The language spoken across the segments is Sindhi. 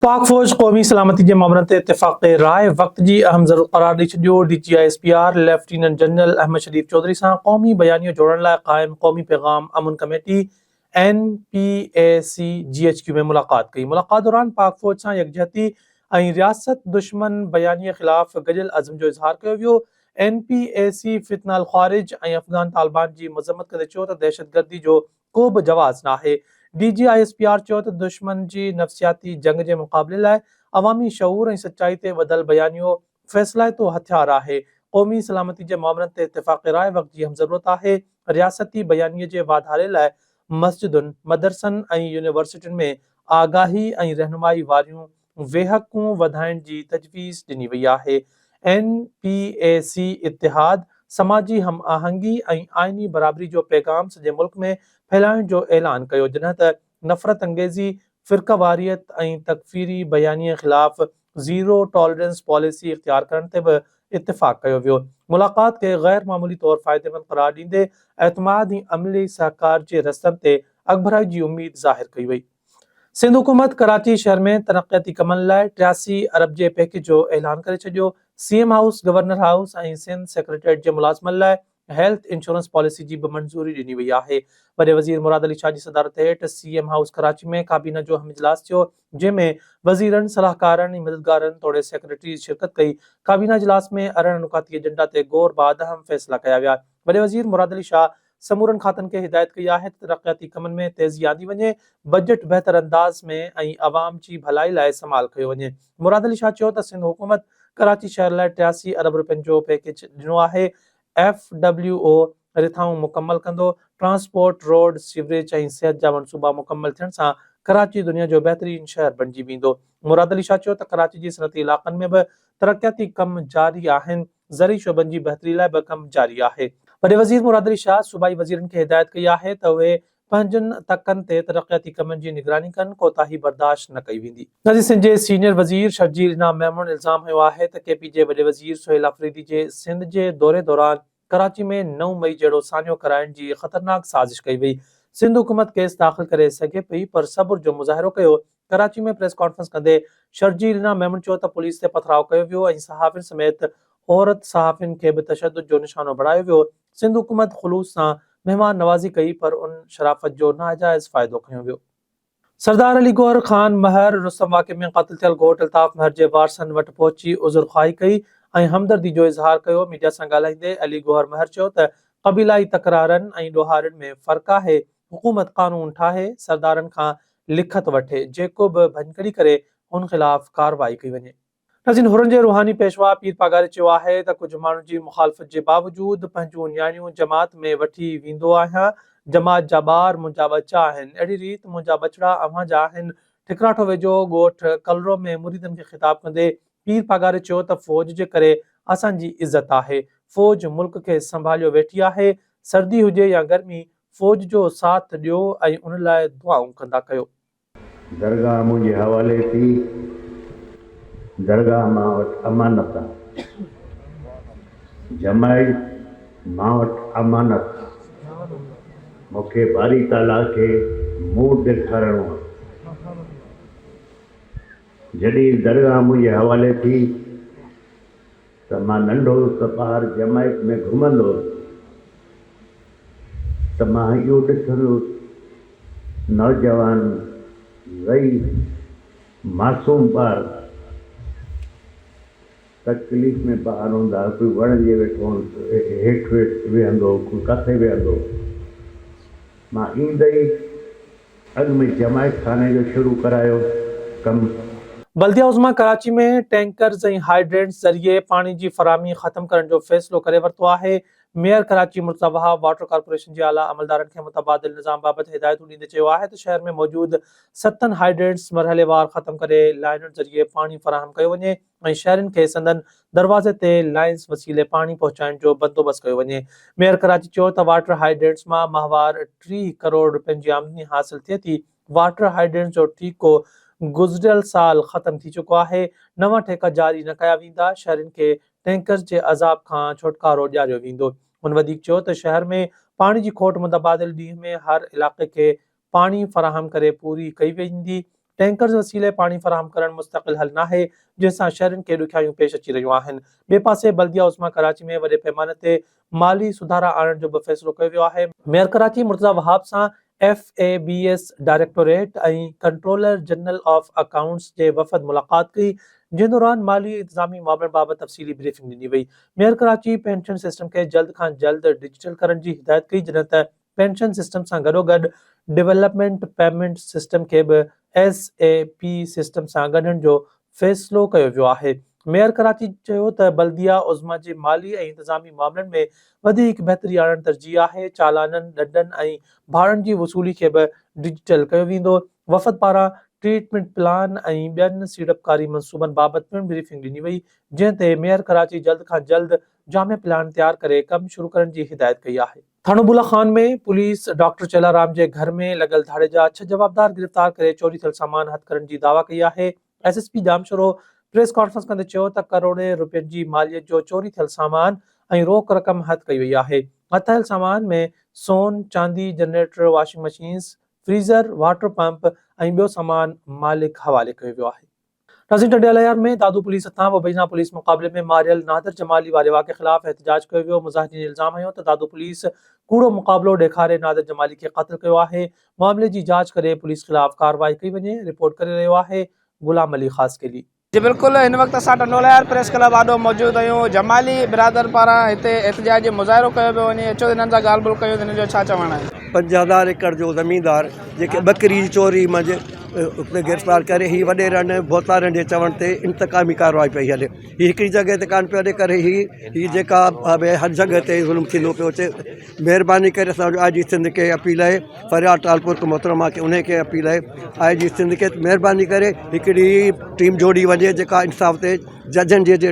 پاڪ فوج قومي سلامتي جي مامرن تي اتفاق راء وقت جي اهم ضرورت قرار ڏئي ڇڏيو، D G I S P R lieutenant general Ahmed Sharif Chaudhry سان قومي بيانيو جوڙڻ لاء قائم قومي پيغام امن committee, N P A C, G H Q ۾ ملاقات ڪئي، ملاقات دوران پاڪ فوج سان يڪجهتي ۽ رياست دشمن بيانيي خلاف گڏيل عزم جو اظهار ڪيو ويو، اين پي اي سي فتنه الخوارج ۽ افغان طالبان جي مذمت ڪندي چيو ته دهشتگردي جو ڪو به جواز ناهي. D G I S P R چيو ته دشمن جي نفسياتي جنگ جي مقابلي لاء عوامي شعور ۽ سچائي تي ٻڌل بيانيو فيصلائتو هٿيار آهي، قومي سلامتي جي معاملن تي اتفاق راء وقت جي اهم ضرورت آهي، رياستي بيانيي جي واڌاري لاء مسجدن، مدرسن ۽ يونيورسٽين ۾ آگاهي ۽ رهنمائي واريون ويهڪون وڌائڻ جي تجويز ڏني وئي آهي، اين پي اي سي اتحاد، سماجي هم آهنگي ۽ آئيني برابري جو پيغام سڄي ملڪ ۾ ڦهلائڻ جو اعلان ڪيو جڏهن ته نفرت انگيزي، فرقيواريت ۽ تڪفيري بيانين خلاف زيرو ٽالرنس پاليسي اختيار ڪرڻ تي به اتفاق ڪيو ويو. ملاقات کي غير معمولي طور فائديمند قرار ڏيندي اعتماد ۽ عملي سهڪار جي رستن تي اڳڀرائي جي اميد ظاهر ڪئي وئي. سنڌ حڪومت ڪراچي شهر ۾ ترقياتي ڪمن لاء ٽياسي ارب جي پيڪيج جو اعلان ڪري ڇڏيو، C M house, governor house ۽ Sindh secretariat جي ملازمن لاء هيلٿ انشورنس پاليسي جي به منظوري ڏني وئي آهي، وڏي وزير مراد علي شاهه جي صدارت هيٺ سي ايم هائوس ڪراچي ۾ ڪابينا جو اهم اجلاس ٿيو جنهن ۾ وزيرن، صلاحڪارن ۽ مددگارن توڙي سيڪريٽريز شرڪت ڪئي، ڪابينا اجلاس ۾ ارڙهن نڪاتي ايجنڊا تي غور بعد اهم فيصلا ڪيا ويا، وڏي وزير مراد علي شاهه سمورن کاتن کي هدايت ڪئي آهي ته ترقياتي ڪمن ۾ تيزي آندي وڃي، بجيٽ بهتر انداز ۾ ۽ عوام جي ڀلائي لاء استعمال ڪيو وڃي. مراد علي شاهه چيو ته سنڌ حڪومت ڪراچي شهر لاء ٽياسي ارب رپين جو پيڪيج ڏنو آهي، ايف ڊبليو او رٿائون مڪمل ڪندو، ٽرانسپورٽ، روڊ، سيوريج ۽ صحت جا منصوبا مڪمل ٿيڻ سان ڪراچي دنيا جو بهترين شهر بڻجي ويندو. مراد علي شاهه چيو ته ڪراچي جي صنعتي علاقن ۾ به ترقياتي ڪم جاري آهن، زرعي شعبن جي بهتري لاء به ڪم جاري آهي. وڏي وزير مراد علي شاهه صوبائي وزيرن کي هدايت ڪئي آهي ته اهي پنهنجن تڪن تي ترقياتي ڪمن جي نگراني ڪن، ڪوتاهي برداشت نه ڪئي ويندي. نظير سنڌ جي سينيئر وزير شرجيل انعام ميمڻ الزام هنيو آهي ته ڪي پي جي وڏي وزير سهيل آفريدي جي سنڌ جي دوري دوران ڪراچي ۾ نو مئي جهڙو سانحو ڪرائڻ جي خطرناڪ سازش ڪئي وئي، سنڌ حڪومت ڪيس داخل ڪري سگهي پئي پر صبر جو مظاهرو ڪيو ڪراچي ۾ پريس ڪانفرنس ڪندي شرجيل نه ميمڻ چيو ته پوليس تي پٿراء ڪيو ويو ۽ صحافين سميت عورت صحافين کي به تشدد جو نشانو بڻايو ويو، سنڌ حڪومت خلوص سان مهمان نوازي ڪئي پر ان شرافت جو ناجائز فائدو کنيو ويو. سردار علي گوهر خان مهر رستم واقعي ۾ قتل ٿيل گهوٽ الطاف مهر جي وارثن وٽ پهچي عذر خواهي ڪئي ۽ همدردي جو اظهار ڪيو، ميڊيا سان ڳالهائيندي علي گوهر مهر چيو ته قبيلائي تڪرارن ۽ ڏوهارين ۾ فرق آهي، حڪومت قانون ٺاهي، سردارن کان لکت وٺي، جيڪو به ڀڃڪڙي ڪري، هن خلاف ڪارروائي ڪئي وڃي. نزين حرن جي روحاني پيشوا پير پاڳاري چيو آهي ته ڪجهه ماڻهن جي مخالفت جي باوجود پنهنجون نياڻيون جماعت ۾ وٺي ويندو آهيان، جماعت جا ٻار منهنجا ٻچا آهن، اهڙي ريت منهنجا ٻچڙا اوهان جا آهن. ٺڪراٺو ويجهو ڳوٺ ڪلرو ۾ مريدن کي خطاب ڪندي پير پاڳاري چيو ته فوج جي ڪري اسان جي عزت آهي، فوج ملڪ کي سنڀاليو ويٺي آهي، سردي هجي يا گرمي فوج جو ساٿ ڏيو ۽ ان لاء دعائون ڪندا ڪيو. درگاهه منهنجي حوالي ٿي، درگاهه مان وٽ امانت آ. جمائي مان وٽ امانت آ. مون کي باري تعاليٰ کي منهن ڏيکارڻو آ. جڏهن درگاهه منهنجي حوالي ٿي. ته مان ننڍو هوس ته ٻاهر جمائيڪ ۾ گهمندو هوس ته مان اهو ڏٺندو هوس نوجوان ضعيف معصوم ٻار تڪليف ۾ ٻاهر هوندا هئا ڪوئي وڻ جي هيٺ ويهندو هو ڪوئي ڪٿي ويهندو هو مان ايندي ئي اڳ ۾ جماعت خاني جو شروع ڪرايو ڪم. بلديه عظميٰ ڪراچي ۾ ٽينڪرز ۽ هائيڊرينٽس ذريعي پاڻي جي فراهمي ختم ڪرڻ جو فيصلو ڪري ورتو آهي، mayor Karachi Murtaza Wahab water corporation جي اعليٰ عملدارن کي متبادل نظام بابت هدايتون ڏيندي چيو آهي ته شهر ۾ موجود ستن هائيڊرينٽس مرحليوار ختم ڪري لائنن ذريعي پاڻي فراهم ڪيو وڃي، ۽ شهرين کي سندن دروازي تي لائنز وسيلي پاڻي پهچائڻ جو بندوبست ڪيو وڃي. ميئر ڪراچي چيو ته واٽر هائيڊرينٽس مان ماهوار ٽيهه ڪروڙ رپين جي آمدني حاصل ٿئي ٿي، واٽر هائيڊرينٽس جو ٺيڪو گذريل سال ختم ٿي چڪو آهي، نوان ٺيڪا جاري نه ڪيا ويندا، شهرين کي ٽينڪرز جي عذاب کان ڇوٽڪارو ڏياريو ويندو. هن وڌيڪ چيو ته شهر ۾ پاڻي جي کوٽ متبادل ڏينهن ۾ هر علائقي کي پاڻي فراهم ڪري پوري ڪئي ويندي، ٽينڪرز وسيلي پاڻي فراهم ڪرڻ مستقل حل ناهي، جنهن سان شهرين کي ڏکيائيون پيش اچي رهيون آهن، ٻئي پاسي بلديه عظميٰ ڪراچي ۾ وڏي پيماني تي مالي سڌارا آڻڻ جو به فيصلو ڪيو ويو آهي، ميئر ڪراچي مرتضيٰ وهاب سان F A B S directorate ۽ controller general of accounts جي وفد ملاقات ڪئي، جنهن دوران مالي انتظامي معاملن بابت تفصيلي بريفنگ ڏني وئي، ميئر ڪراچي پينشن سسٽم کي جلد کان جلد ڊجيٽل ڪرڻ جي هدايت ڪئي جڏهن ته پينشن سسٽم سان گڏوگڏ ڊولپمينٽ پيمينٽ سسٽم کي به ايس اي پي سسٽم سان ڳنڍڻ جو فيصلو ڪيو ويو آهي. ميئر ڪراچي چيو ته بلديه عظميٰ جي مالي ۽ انتظامي معاملن ۾ وڌيڪ بهتري آڻڻ ترجيح آهي، چالانن، ڏنڊن ۽ ڀاڙن جي وصولي کي به ڊجيٽل ڪيو ويندو، وفد پاران ٽريٽمينٽ پلان ۽ ٻين سيڙپڪاري منصوبن بابت پڻ بريفنگ ڏني وئي، جنهن تي ميئر ڪراچي جلد کان جلد جامع پلان تيار ڪري ڪم شروع ڪرڻ جي هدايت ڪئي آهي. ٿاڻو بولا خان ۾ پوليس ڊاڪٽر چيلارام جي گهر ۾ لڳل ڌاڙي جا ڇهه جوابدار گرفتار ڪري چوري ٿيل سامان هٿ ڪرڻ جي دعويٰ ڪئي آهي. S S P Jamshoro press conference ڪندي چيو ته ڪروڙين روپين جي ماليت جو چوري ٿيل سامان ۽ روڪ رقم هٿ ڪئي وئي آهي. هٿايل سامان ۾ سون، چاندي، generator, washing machines, freezer, water pump ۽ ٻيو سامان مالڪ حوالي ڪيو ويو آهي. نسيم ٽنڊيالهيار ۾ دادو پوليس هٿان وبينا پوليس مقابلي ۾ ماريل نادر جمالي واري واقعي خلاف احتجاج ڪيو ويو مظاهرين الزام هنيو ته دادو پوليس ڪوڙو مقابلو ڏيکاري نادر جمالي کي قتل ڪيو آهي معاملي جي جاچ ڪري پوليس خلاف ڪارروائي ڪئي وڃي رپورٽ ڪري رهيو آهي غلام علي خاصخيلي. جي بلڪل هن وقت اسان ٽنڊولهيار پريس ڪلب آڏو موجود آهيون جمالي برادر پاران هتي احتجاجي مظاهرو ڪيو پيو وڃي اچو هنن سان ڳالهه ٻولهه ڪيون ته هنن جو ڇا چوڻ آهي. پنج هزار ايڪڙ جو زميندار جيڪي ٻڪري جي چوري منجهه کي گرفتار ڪري هي وڏيرن ڀوتارن جي چوڻ تي انتقامي ڪارروائي پئي هلي هي هڪڙي جڳهه تي ڪانه پيو هلي ڪري هي هي جيڪا هر جڳهه تي ظلم ٿيندو پيو اچي مهرباني ڪري اسانجو آء جي سنڌ کي اپيل آهي فريال ٽالپر کي محترمه کي انهي کي اپيل آهي آء جي سنڌ کي مهرباني ڪري هڪڙي ٽيم جوڙي وڃي جيڪا انصاف تي ججن جي جي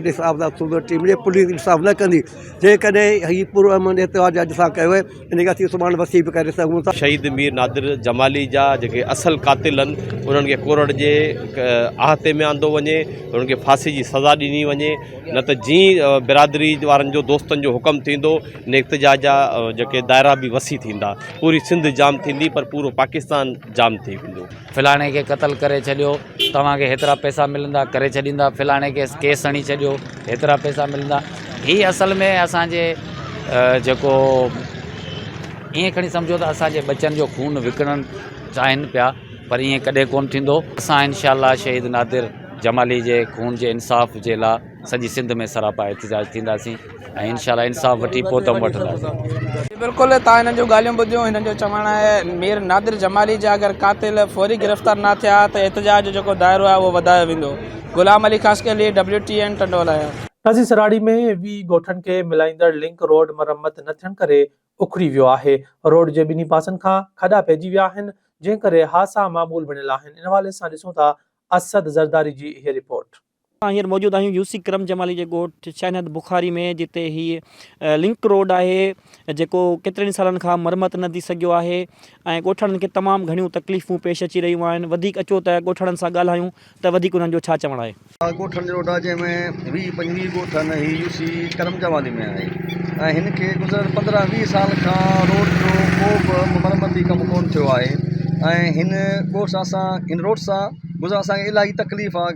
ٽيم جي پوليس انصاف نه ڪندي جيڪڏهن هي پرامن احتجاج اڄ سان ڪيو انهيء کان سواء سڀاڻ وسيع به ڪري سگهون ٿا. شهيد مير نادر جمالي جا جيڪي اصل قاتل هن انهن کي ڪورڙ جي احاطي ۾ آندو وڃي انهن کي ڦاسي جي سزا ڏني وڃي نه ته جي برادري وارن جو دوستن جو حڪم ٿيندو ان احتجاج جا جيڪي دائرا به وسيع ٿيندا پوري سنڌ جام ٿيندي پر پورو پاڪستان جام ٿي ويندو. فلاڻي کي قتل ڪري ڇڏيو. توهان کي هيترا پئسا ملندا ڪري ڇڏيندا فلاڻي کي ڪيس هڻي ڇڏيو هيترا پئسا ملندا هي اصل ۾ اسان جي جيڪو ائين کڻي سمجهو ته اسان جي ٻچن جو خون وڪڻڻ چاهين پيا پر ائين ڪڏهن ڪونه ٿيندو اسان انشاء الله شهيد نادر جمالي جي خون جي انصاف جي لاء سڄي سنڌ ۾ سراپا احتجاج ٿينداسين ۽ انشاء الله انصاف وٺي پوء دم وٺنداسين. جي بلڪل توهان هنن جون ڳالهيون ٻڌيون هنن جو چوڻ آهي مير نادر جمالي جا اگر قاتل فوري گرفتار نه ٿيا ته احتجاج جو جيڪو دائرو آهي اهو وڌايو ويندو غلام علي خاصخيلي لي ڊبليو ٽي اين ٽنڊولايا. تازي سراڙي ۾ وي ڳوٺن کي ملائيندڙ لنڪ روڊ مرمت نه ٿيڻ ڪري اکري ويو آهي، روڊ جي ٻنهي پاسن کان کڏا پئجي ويا آهن، جنهن ڪري حادثا معمول بڻيل آهن، ان حوالي سان ڏسون ٿا اسد زرداري جي هيء رپورٽ. اسان هينئر موجود آهيون يوسي ڪرم جمالي جي ڳوٺ شاهنهد بخاري ۾ جتي هي لنڪ روڊ آهي جيڪو ڪيترن ئي سالن کان مرمت نه ٿي سگهيو آهي ۽ ڳوٺاڻن کي تمام گهڻيون تڪليفون پيش اچي رهيون آهن وڌيڪ اچو ته ڳوٺاڻن سان ڳالهايون ته وڌيڪ انهن جو ڇا چوڻ آهي. اها ڳوٺاڻن جي روڊ آهي جنهن ۾ ويهه پنجويهه ڳوٺ آهن هي يوسي ڪرم جمالي ۾ آهي ۽ هن کي گذريل پندرهن ويهه سال کان روڊ جو ڪو به مرمتي ڪم ڪونه ٿيو آهي ۽ هن ڳوٺ سان اسان هن روڊ سان گذران اسانکي الاهي تڪليف آ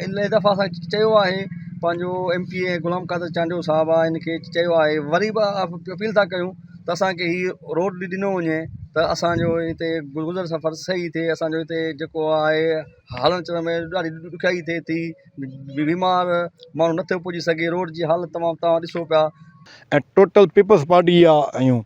الاهي دفعا اسان چيو آهي پنهنجو M P A Ghulam Qadir Chandio صاحب آ ان کي چيو آهي وري به اپيل ٿا ڪيون ته اسانکي هي روڊ ڏنو وڃي ته اسانجو هتي گذر سفر سهي ٿئي اسانجو هتي جيڪو آهي هلڻ چلڻ ۾ ڏاڍي ڏکيائي ٿئي ٿي بيمار ماڻهو نه ٿو پڄي سگهي روڊ جي حالت تمام تمام ڏسو پيا ۽ ٽوٽل پيپلز پارٽي جا آهيون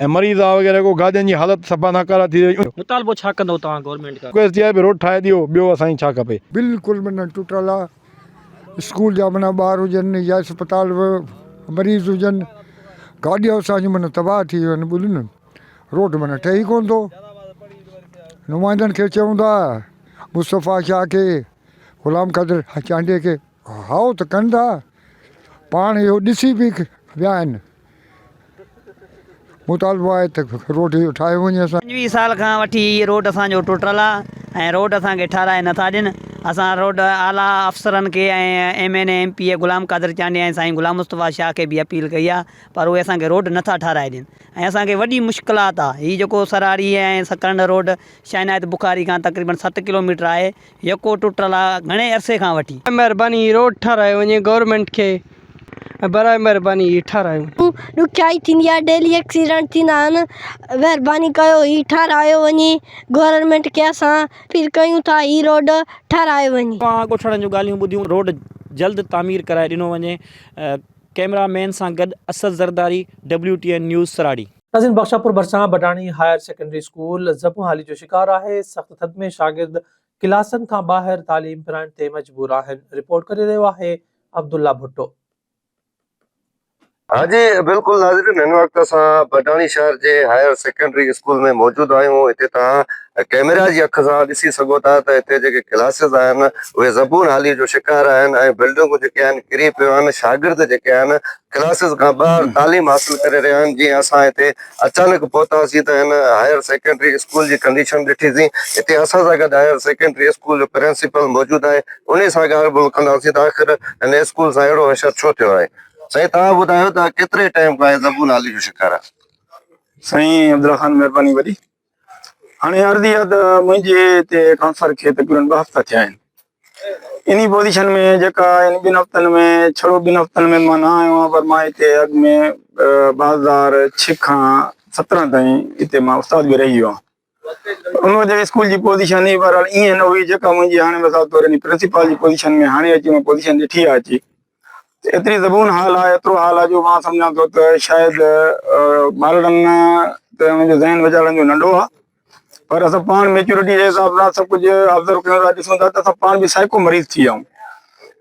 ۽ مريض آ وغيره ڪو گاڏين جي حالت صفا ناڪارا ٿي وئي. مطالبو ڇا ڪندو توهان گورنمينٽ کان. رڪويسٽ اها آهي ڀي روڊ ٺاهي ڏيو ٻيو اسان کي ڇا کپي. بلڪل معنيٰ ٽٽل آ اسڪول جا معنيٰ ٻار هجن يا اسپتال مريض هجن گاڏيون اسان جون معنيٰ تباهه ٿي ويون آهن ٻلين روڊ معنيٰ ٺهي ڪون ٿو نمائندن کي چئون ٿا مصطفيٰ شاهه کي غلام قادر چانڊيي کي هائو ته ڪن ٿا، پاڻ اهو ڏسي به ويا آهن. مطالبو آهي ته روڊ اهو ٺاهيو وڃي. اسان. پنجويهه سال کان وٺي هي روڊ اسان جو ٽٽل آ ۽ روڊ اسان کي ٺهرائي نه ٿا ڏين. اسان روڊ اعليٰ افسرن کي ۽ M N A M P A Ghulam Qadir Chandia ۽ سائين غلام مصطفيٰ شاهه کي به اپيل ڪئي آ پر اهي اسان کي روڊ نه ٿا ٺهرائي ڏين ۽ اسان کي وڏي مشڪلات آ. هي جيڪو سرهاڙي ۽ سڪرنڊ روڊ شاهعنايت بخاري کان تقريبن ست ڪلوميٽر آهي يڪو ٽٽل آ گهڻي عرصي کان وٺي. برائي مهرباني هي روڊ ٺارايو وڃي گورنمينٽ کي برائي مهرباني هي ٺارايو وڃي. ڏکيائي ٿيندي آ ڊيلي ايڪسيڊنٽ ٿيندا آهن مهرباني ڪيو هي ٺارايو وڃي گورنمينٽ کي اسان پيل ڪيون ٿا هي روڊ ٺارايو وڃي. اوهان ڳوٺاڻن جون ڳالهيون ٻڌيون روڊ جلد تعمير ڪرائي ڏنو وڃي ڪئميرا مين سان گڏ Asad Zardari W T N news Sarari. تزين بخش شاهپور ڀرسان بڊاڻي هائر سيڪنڊري اسڪول زبونحالي جو شڪار آهي، سخت ٿڌ ۾ شاگرد ڪلاسن کان ٻاهر تعليم پرائڻ تي مجبور آهن، رپورٽ ڪري رهيو آهي عبدالله ڀٽو. ها جي بلڪل ناظرين هن وقت اسان بڊاڻي شهر جي هائر سيڪنڊري اسڪول ۾ موجود آهيون هتي توهان ڪيميرا جي اک سان ڏسي سگهو ٿا ته هتي جيڪي ڪلاسز آهن اهي زبون حالي جو شڪار آهن ۽ بلڊنگون جيڪي آهن ڪري پيو آهن شاگرد جيڪي آهن ڪلاسز کان ٻاهر تعليم حاصل ڪري رهيا آهن جيئن اسان هتي اچانڪ پهتاسين ته هن هائير سيڪنڊري اسڪول جي ڪنڊيشن ڏٺي سين هتي اسان سان گڏ هائير سيڪنڊري اسڪول جو پرنسپل موجود آهي انهي سان ڳالهه ٻولهه ڪنداسين ته آخر هن اسڪول سان اهڙو حشر ڇو ٿيو آهي سائين توهان ٻڌايو ته ڪيتري ٽائيم کان هي زبون حالي جو شڪار آهي. سائين عبدالله خان مهرباني وڏي هاڻي عرض اها ته منهنجي هتي ٽرانسفر کي تقريبن ٻه هفتا ٿيا آهن انهي پوزيشن ۾ جيڪا ان ٻن هفتن ۾ ڇڙو ٻن هفتن ۾ مان نه آيو آهيان پر مان هتي اڳ ۾ ٻه هزار ڇهه کان سترهن تائين هتي مان استاد به رهي ويو آهيان ان وجه اسڪول جي پوزيشن ئي بهرحال ائين نه هئي جيڪا منهنجي هاڻي مثال طور پرنسپال جي پوزيشن ۾ هاڻي اچي مان پوزيشن ڏٺي آهي اچي ايتري زبون حال آ، ايترو حال آ جو مان سمجهان ٿو ته شايد ٻارڙن تي انهن جو ذهن ويچارن جو ننڍو آ پر اسان پاڻ ميچورٽي جي حساب سان سڀ ڪجهه آبزرو ڪيون ٿا ڏسون ٿا ته اسان پاڻ به سائيڪو مريض ٿي ويا آهيون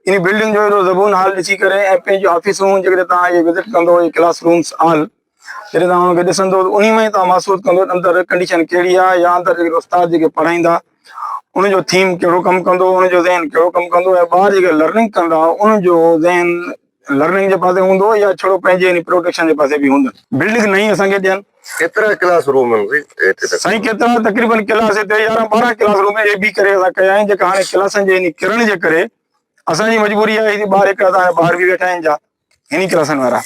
انهي بلڊنگ جو اهڙو زبون حال ڏسي ڪري ۽ پنهنجون آفيسون جيڪڏهن توهان اهي وزٽ ڪندو اهي ڪلاس رومس آل جڏهن توهان انهن کي ڏسندو ته انهي مان ئي توهان محسوس ڪندو ته اندر ڪنڊيشن ڪهڙي آهي يا اندر جيڪي استاد جيڪي پڙهائيندا انهن جو ٿيم ڪهڙو ڪم ڪندو انهن جو ذهن ڪهڙو ڪم ڪندو ۽ ٻار جيڪي لرننگ ڪندا انهن جو ذهن لرننگ جي پاسي هوندو يا ڇڙو پنهنجي يعني پروڊڪشن جي پاسي به هوندن بلڊنگ نئين اسان کي ڏين. ڪيترا ڪلاس روم آهن هتي تقريبن؟ سائين ڪيترا تقريبن ڪلاس هتي يارهن ٻارهن ڪلاس روم اي بي ڪري اسان ڪيا آهن جيڪا هاڻي ڪلاسن جي يعني ڪرڻ جي ڪري اسان جي مجبوري آهي ٻار هڪڙا ته هاڻي ٻاهر به ويٺا آهن جا هني ڪلاسن وارا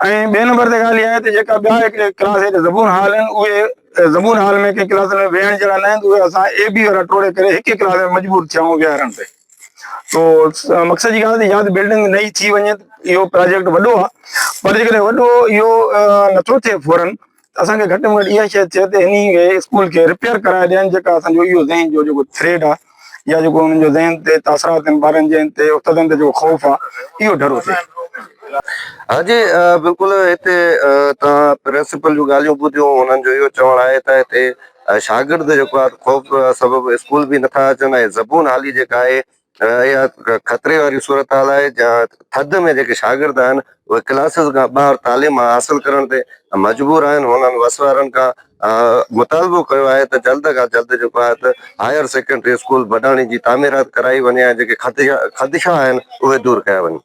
۽ ٻئي نمبر تي ڳالهه اها آهي ته جيڪا ٻيا هڪڙي ڪلاس هيٺ زبون هال آهن اهي زبون هال ۾ ڪنهن ڪلاسن ۾ ويهڻ جهڙا نه آهن اهي اسان اي بي وارا ٽوڙي ڪري هڪ ئي ڪلاس ۾ مجبور ٿيا آهيون ويهارڻ تي تو مقصد جي ڳالهه ياد بلڊنگ نئي ٿي وڃي اهو پراجيڪٽ وڏو آهي پر جيڪڏهن وڏو اهو نٿو ٿئي فورن اسان کي گهٽ ۾ گهٽ اها شيء چئي ته انهي اسڪول کي رپيئر ڪرائي ڏين جيڪا اسان جو اهو ذهن جو جيڪو ٿريڊ آهي يا جيڪو انهن جو ذهن تي تاثرات آهن ٻارن جي تي استادن تي جيڪو خوف آهي اهو ڍرو ٿئي. ها جي بلڪل هتي توهان پرنسپل جون ڳالهيون ٻڌيون انهن جو اهو چوڻ آهي ته هتي شاگرد جيڪو آهي خوف سبب اسڪول به نٿا اچن ۽ زبون حالي جيڪا آهي اها خطري واري صورتحال آهي جهان ٿڌ ۾ جيڪي شاگرد آهن اهي ڪلاسز کان ٻاهر تعليم حاصل ڪرڻ تي مجبور آهن هنن وس وارن کان مطالبو ڪيو آهي ته جلد کان جلد جيڪو آهي ته هائير سيڪنڊري اسڪول بڊاڻي جي تعميرات ڪرائي وڃي ۽ جيڪي خدشا آهن اهي دور ڪيا وڃن.